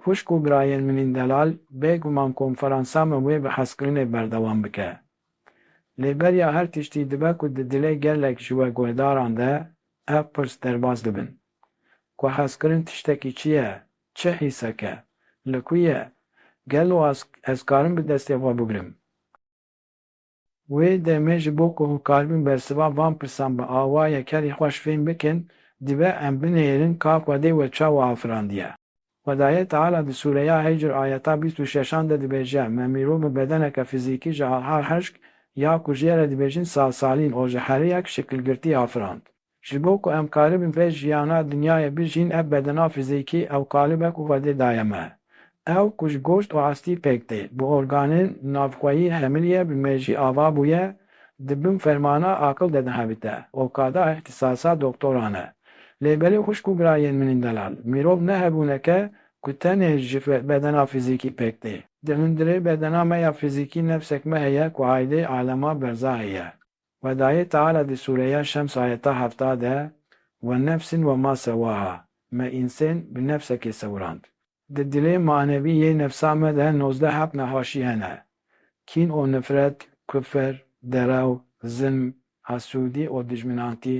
Xwişk û birayên min ên delal bê guman konferansa me wê bi hezkirinê berdewam bike. Lê beriya her tiştî dibe ku di dilê gelek ji we guhdaran de ev pirs derbas dibin. Ku hezkirin tiştekî çi ye, çi hîsek e, li ku ye, gelo ez karim bi destê xwe bigrim? Wê demê ji bo ku hokaribin bersiva van pirsan bi awa yekerî xweş fêm bikin, dibe em binêrin ka Xwedê we çawa afirandiye. Xwedayê Teala di sûreya Hicr ayeta bîst û şeşan de dibêje, Me mîrov bi bedeneke fizîkî ji alha hişk, ya ku jê re dibêjin salsalîn, o ji heriyek şikilgirtî afirand. Ji bo ku em karibin vê jiyana dinyayê bijîn ev bedena fizîkî ew kalib e ku Xwedê daye me. Ew ku ji goşt û astî pêk tê, bi organên navxweyî hemil ye, bi mejî ava bûye, di bin fermana aqil de dihevite, okada îhtisasa doktoran e. Lê belê xwişk û birayên min ên delal, mirov ne hebûneke ku tenê ji bedena fizîkî pêk tê. Di hundirê bedena me ya fizîkî nefsek me heye ku haydê alema berzahê ye. Xwedayê Teala di sûreya Şems ayeta hefta de, Ve nefsîn ve ma sewaha, me însên bi nefsekê sewirand. Di dilê manevî yê nefsa me de nozdeh hep nehaşî hene, kîn û nifret, kufr, derew, zilm, hesûdî û dijminantî,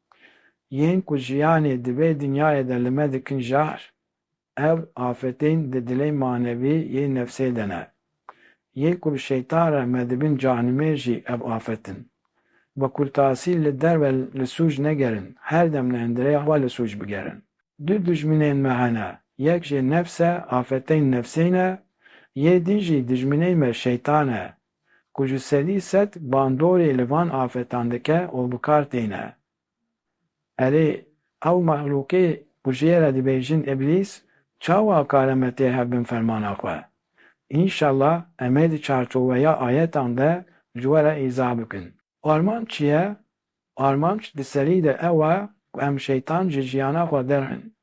Yên ku jiyanê di vê dinyayê de li me dikin jahr, ev afetên di dilê manevî yê nefsê de ne. Yê ku bi şeytan re me dibin canimêr jî ev afet in. Wekurtasî li derve li sûc negerin, her dem li hundirê xwe li sûc bigerin. Du dijminên me hene, yek jê nefs e, afetên nefsê ne, yê din jî dijminê me şeytan e, ku ji sedî sed bandorê li van afetan dike û bi kar têne. Erê, ew mexlûkê ku ji ye re dibêjin îblîs, çawa kare me tê hev bin fermana xwe? Înşellah em ê di çarçoweya ayetan de ji we re îzah bikin. Armanc çi ye? Armanc di serî de ew e ku em şeytan ji jiyana xwe derxin.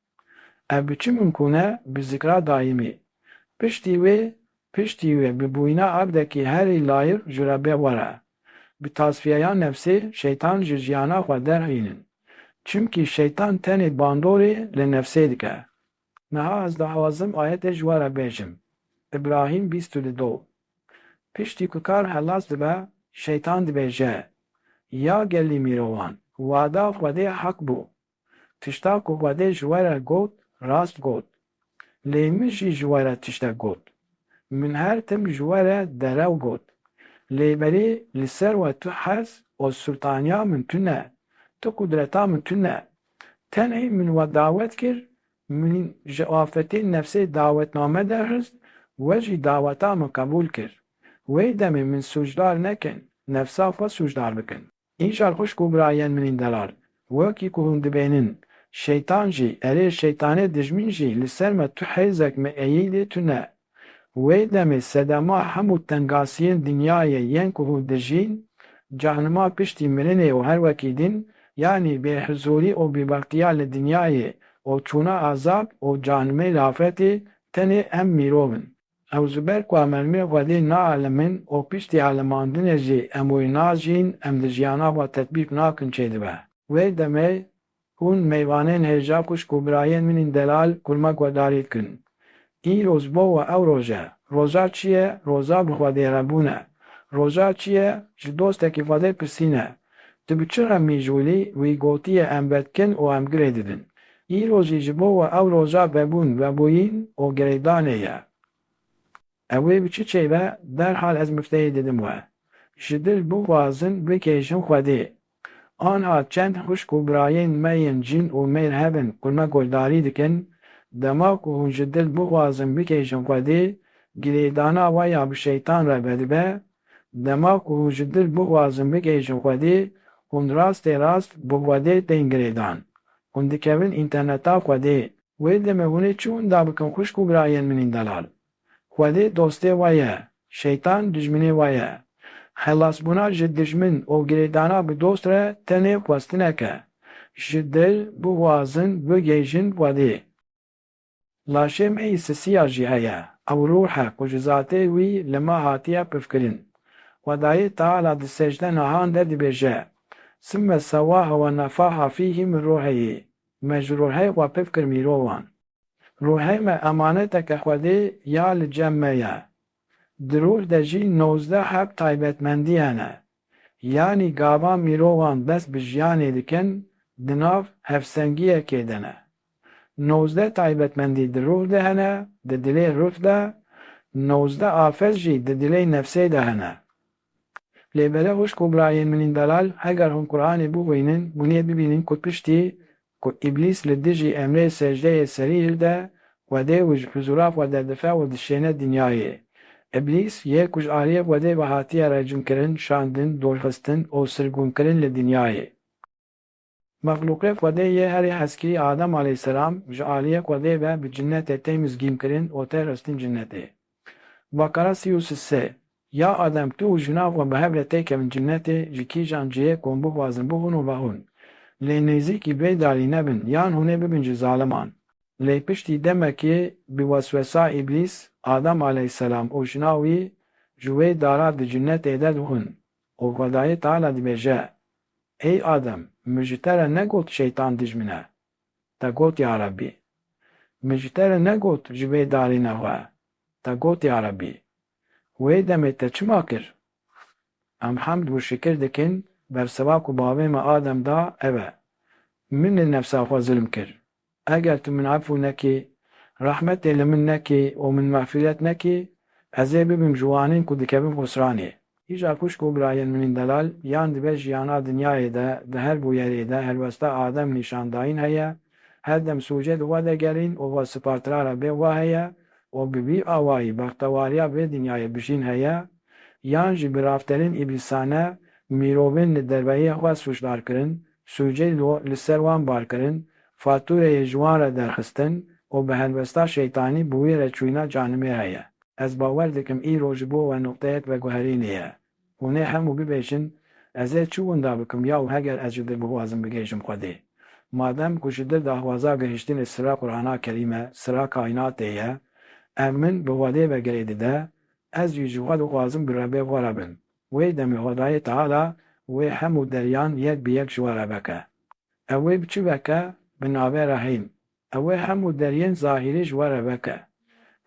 Ev bi çi mimkûn e? Bi zikra daîmî. Piştî wê, piştî wê bi bûyîna aqdekî herî layîq ji Rebê xwe re. Bi tasfiyeya nefsê şeytan ji jiyana xwe derxînin. Çimkî şeytan tenê bandorê li nefsê dike. Niha ez diawazim ayetê ji we re bêjim. Îbrahîm bîst û li do. Piştî ku kar helas dibe, Şeytan dibêje, Ya gelî mîrovan! Wada Xwedê hak bû. Tişta ku Xwedê ji we re got, rast got. Lê min jî ji we re tiştek got. Min her tim ji we re derew got. Lê berî li ser we tu hez û sultaniya min tune, tu qudreta min tune. Tenê min we dawet kir, min ji afetê nefsê dawetname derxist, we jî daweta min qebûl kir. Wê demê min sûcdar nekin, nefsa xwe sûcdar bikin. Îcar xwişk û birayên min ên delal, wekî ku hûn dibêhnin, şeytan jî, erê şeytanê dijmîn jî li ser me tu hêzek mi eyî lê tu ne, Wê demê sedema hemû tengasiyên dinyayê yên ku hûn dijîn, canima piştî mirinê û her wekî din, yanî bêhizûrî û bêbextiya li dinyayê û çûna azab û canimên afetê tenê em mîrov in. Ew ji ber ku em ermê Xwedê naalimin û piştî alimandinê jî em wê najîn, em di jiyana xwe tetbîk nakin çêdibe. Wê demê Hûn meyvanên hêja xwişk û birayên min ên delal kurma guhdarî dikin. Îro ji bo we ew roj e. Roja çi ye? Roja bi Xwedê re bûn e. Roja çi ye? Ji dostekî Xwedê pirsîn e. Tu bi çi xemgîn ji Wîlî? Wî gotiye em vedikin û em girê didin. Îro jî ji bo we ew roja vebûn, vebûyîn û girêdanê ye. Ew ê bi çi çêve? Derhal ez mifteyê didim we. Ji dil bixwazin bikêjin Xwedê. Anha çend xwişk û birayên me yên jin û mêr hebin ku me guhdarî dikin, dema ku hûn ji dil bixwazin bikêjin xwedî, girêdana we ya bi şeytan re vedibe, dema ku hûn ji dil bixwazin bikêjin xwedî, hûn rastê rast bi xwedê tên girêdan. Hûn dikevin înterneta xwedê. Wê demê hûn ê çi wenda bikin xwişk û birayên min ên delal? Xwedê dostê we ye, şeytan dijminê we ye. Xelasbûna ji dijmin û girêdana bi dost re tenê xwestinek e. Ji dil bixwazin bigihîjin Xwedê. Laşê me yê sisiya jî heye, ew ruh e ku ji zatê wî li me hatiye pifkirin. Xwedayê Teala di secde nahan de dibêje, Sime sewahe ve nefaha fîhî min ruheyê, me ji ruhê xwe pifkir mîrovan. Ruhê me emaneteke Xwedê ya li cem me ye. Di ruh de jî nozdeh heb taybetmendiye ne. Yanî gava mirovan dest bi jiyanê dikin di nav hevsengiyekê de ne. Nozdeh taybetmendî di ruh de hene, di dilê ruh de, nozdeh afet jî di dilê nefsê de hene. Lê bere wişk û birayên min ên delal, heger hûn Qur'anê bixwînin, hûn ê bibînin ku piştî ku îblîs li dijî emrê secdeyê serî hilde, xwedê û ji huzûra xwe derdife û dişêne dinyayê. Îblîs yê ku ji aliyê xwedê ve hatiye rejimkirin, şandin, dorxistin û sirgûnkirin li dinyayê. Mexlûqê Xwedê yê herî hezkî Adem aleyhîsselam ji aliyê Xwedê ve bi cinetê tê mizgînkirin û tê xistin cinetê. Bakara sî û sê. Ya Adem tu û jina xwe bi hev re tê kevin cinetê ji kîjan cihêk hûn bixwazin bixwin û vexwin. Lê nêzîkî bê dalî nebin yan hûn ê bibin ji zaliman. Lê piştî demekê bi weswesa îblîs Adem aleyhîsselam û jina wî ji wê dara di cinetê de dixwin û Xwedayê Teala dibêje, Ey Adem, min ji te re negot şeytan dij min e. Te got ya Rebbî. Min ji te re negot ji vê darê ne xwe. Te got ya Rebbî. Wê demê te çima kir? Em hemd û şikir dikin, bersiva ku bavê me Adem da ev e. Min li nefsa xwe zilm kir, Eger tu min efû nekî, rehmetê li min nekî û min mexfîret nekî, ez ê bibim ji wanên ku dikevin xusranê. Îja xwişk û birayên min ên delal yan dibe jiyana dinyayê de, di her bûyerê de helwesta adem nîşandayîn heye, her dem sûcê di we de gerîn û we sipartira re bê we heye û bi vî awayî bextewariya vê dinyayê bijîn heye, yan jî bi rafterên îblîsane mirovên li derveyê xwe sûcdar kirin Sûcêlo li ser wan bar kirin, fatûreyê ji wan re derxistin û bi helwesta şeytanî bi wî re çûyîna canimê re ye. Ez bawer dikim îro ji bo we nuqteyek veguherînê ye. Hûnê hemû bibêjin, Ez ê çi winda bikim ya û heger ez ji dir bixwazim bigihêjim Xwedê? Madem ku ji dir daxwaza gihiştinê sira Qur'ana Kerîm e, sira kaînatê ye, ev min bi Xwedê ve girê dide, ez jî ji Xwe dixwazim bi Rebê xwe re bim. Wê demê Xwedayê Teala wê hemû deryan yek bi yek ji we re veke. Ew wê bi çi veke? Bi navê Rehîm. Ew wê hemû deryên zahîrî ji we re veke.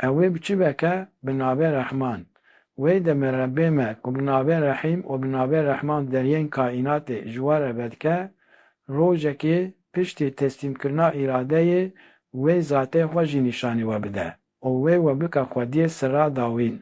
Ew wê bi çi veke? Bi navê Rehman. Wê demê Rebbê me ku bi navê Rehîm û bi navê Rehman deryên kaînatê ji we re vedike, rojekê piştî teslîmkirina îradeyê wê zatê xwe jî nîşanî we bide û wê we bike xwediyê sirra dawîn.